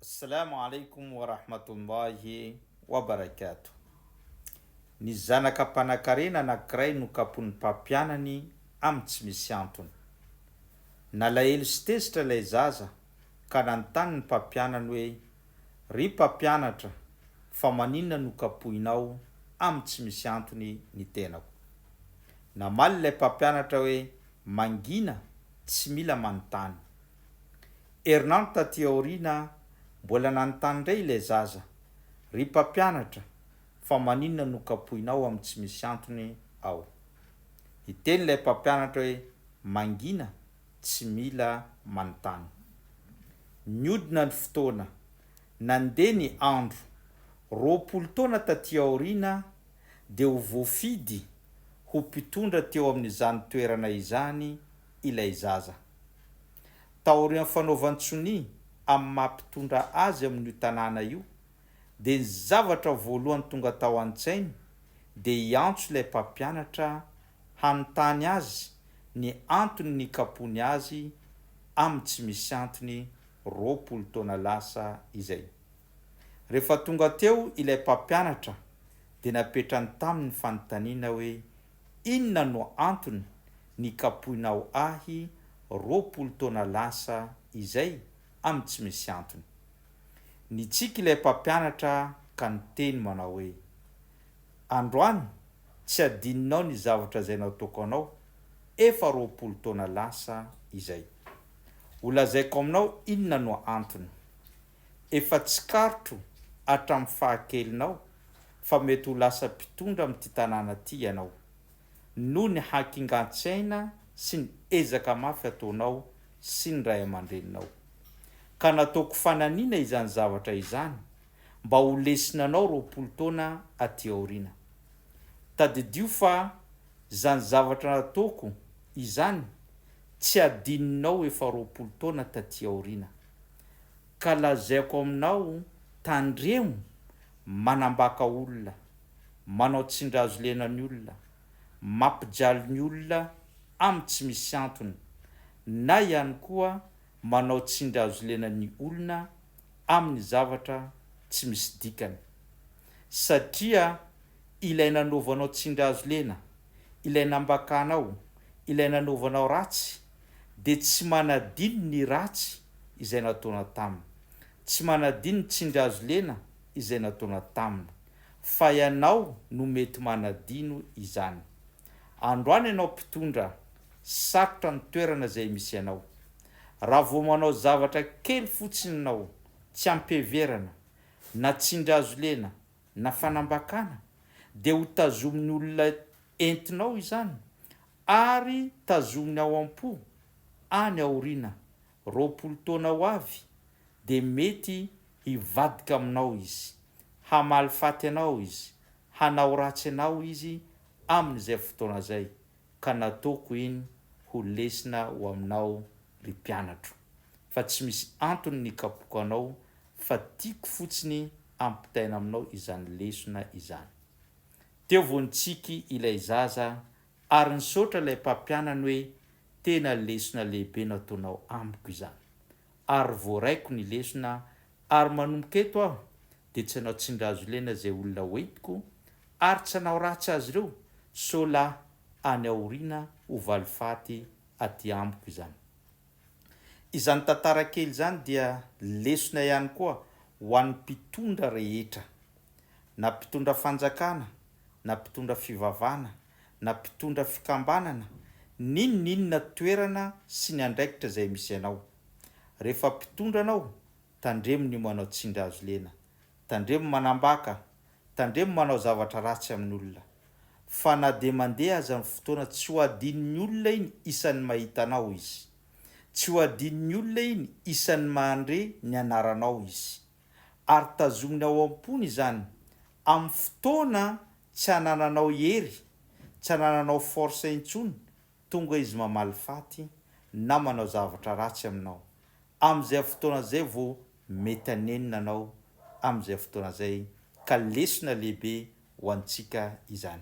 Assalamu alaikum wa rahmatullahi wa barakatuh Ny zanaka mpanakarena anankiray nokapoin'ny mpampianany amin'ny tsy misy antony. Nalahelo sy tezitra ilay zaza ka nanontany ny mpampianany hoe, Ry mpampianatra, fa maninona no kapohinao amin'ny tsy misy antony ny tenako? Namaly ilay mpampianatra hoe, Mangina, tsy mila manontany. Herinandro taty aoriana mbola nanontany indray ilay zaza, Ry mpampianatra, fa maninona no kapohinao amin'ny tsy misy antony aho? Niteny ilay mpampianatra hoe, Mangina, tsy mila manontany. Nihodina ny fotoana. Nandeha ny andro. Roapolo taona taty aoriana dia ho voafidy ho mpitondra teo amin'izany toerana izany ilay zaza. Taorian'ny fanaovan-tsonia amin'ny maha mpitondra azy amin'io tanàna io dia ny zavatra voalohany tonga tao an-tsainy dia hiantso ilay mpampianatra hanontany azy ny antony nikapoany azy amin'ny tsy misy antony roapolo taona lasa izay. Rehefa tonga teo ilay mpampianatra dia napetrany taminy ny fanontaniana hoe Inona no antony nikapoinao ahy roapolo taona lasa izay amin'ny tsy misy antony? Nitsiky ilay mpampianatra ka niteny manao hoe, Androany tsy hadininao ny zavatra izay nataoko anao efa roapolo taona lasa izay. Holazaiko aminao inona no antony. Efa tsikaritro hatramin'ny fahakelinao fa mety ho lasa mpitondra amin'ity tanàna ity ianao, noho ny hakingan-tsaina sy ny ezaka mafy ataonao sy ny ray aman-dreninao. Ka nataoko fananiana izany zavatra izany mba ho lesona anao roapolo taona aty aoriana. Tadidio fa izany zavatra nataoko izany tsy hadininao efa roapolo taona taty aoriana. ka lazaiko aminao tandremo manambaka olona, manao tsindrazo-lena ny olona, mampijaly ny olona amin'ny tsy misy antony, na ihany koa manao tsindrazo-lena ny olona amin'ny zavatra tsy misy dikany. Satria ilay nanaovanao tsindrazo-lena, ilay nambakanao, ilay nanaovanao ratsy, dia tsy manadino ny ratsy izay nataona taminy, tsy manadino ny tsindrihazolena izay nataona taminy, fa ianao no mety manadino izany. Androany ianao mpitondra, sarotra ny toerana izay misy anao. Raha vao manao zavatra kely fotsiny ianao tsy ampiheverana, na tsindrihazolena, na fanambakana dia ho tazomin'ny olona entinao izany ary tazominy ao am-po any aoriana roapolo taona ho avy dia mety hivadika aminao izy, hamaly faty anao izy, hanao ratsy anao izy amin'izay fotoana izay, ka nataoko iny ho lesona ho aminao ry mpianatro fa tsy misy antony ny hikapoka anao fa tiako fotsiny ampitaina aminao izany lesona izany. Teo vao nitsiky ilay zaza ary nisaotra ilay mpampianany hoe tena lesona lehibe nataonao amiko izany ary voaraiko ny lesona ary manomboka eto aho dia tsy hanao tsindrazolena izay olona hoentiko ary tsy hanao ratsy azy ireo sao la any aoriana ho valifaty aty amiko izany. Izany tantara kely izany dia lesona ihany koa ho an'ny mpitondra rehetra na mpitondra fanjakana na mpitondra fivavahana na mpitondra fikambanana n'inon'inona toerana sy ny andraikitra izay misy anao. Rehefa mpitondra anao, tandremo ny manao tsindry hazo lena, tandremo manambaka, tandremo manao zavatra ratsy amin'olona. Fa na dia mandeha aza ny fotoana tsy ho adinon'ny olona iny isan'ny mahita anao izy. Tsy ho adinon'ny olona iny isan'ny mandre ny anaranao izy. ary tazominy ao am-pony izany amin'ny fotoana tsy anananao hery, tsy anananao force intsony, tonga izy mamaly faty na manao zavatra ratsy aminao. Amin'izay fotoana zay vao mety hanenina anao amin'izay fotoana zay ka lesona lehibe ho antsika izany.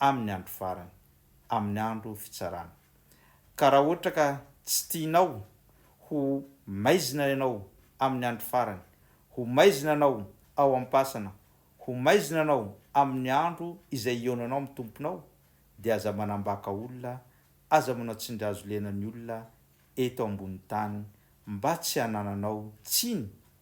amin'ny andro farany, amin'ny andro fitsarana. Ka raha ohatra ka tsy tianao ho maizina ianao amin'ny andro farany, ho maizina anao ao am-pasana, ho maizina anao amin'ny andro izay hihaonanao amin'ny Tomponao, dia aza manambaka olona, aza manao tsindrihazolena ny olona eto ambonin'ny tany mba tsy hanananao tsiny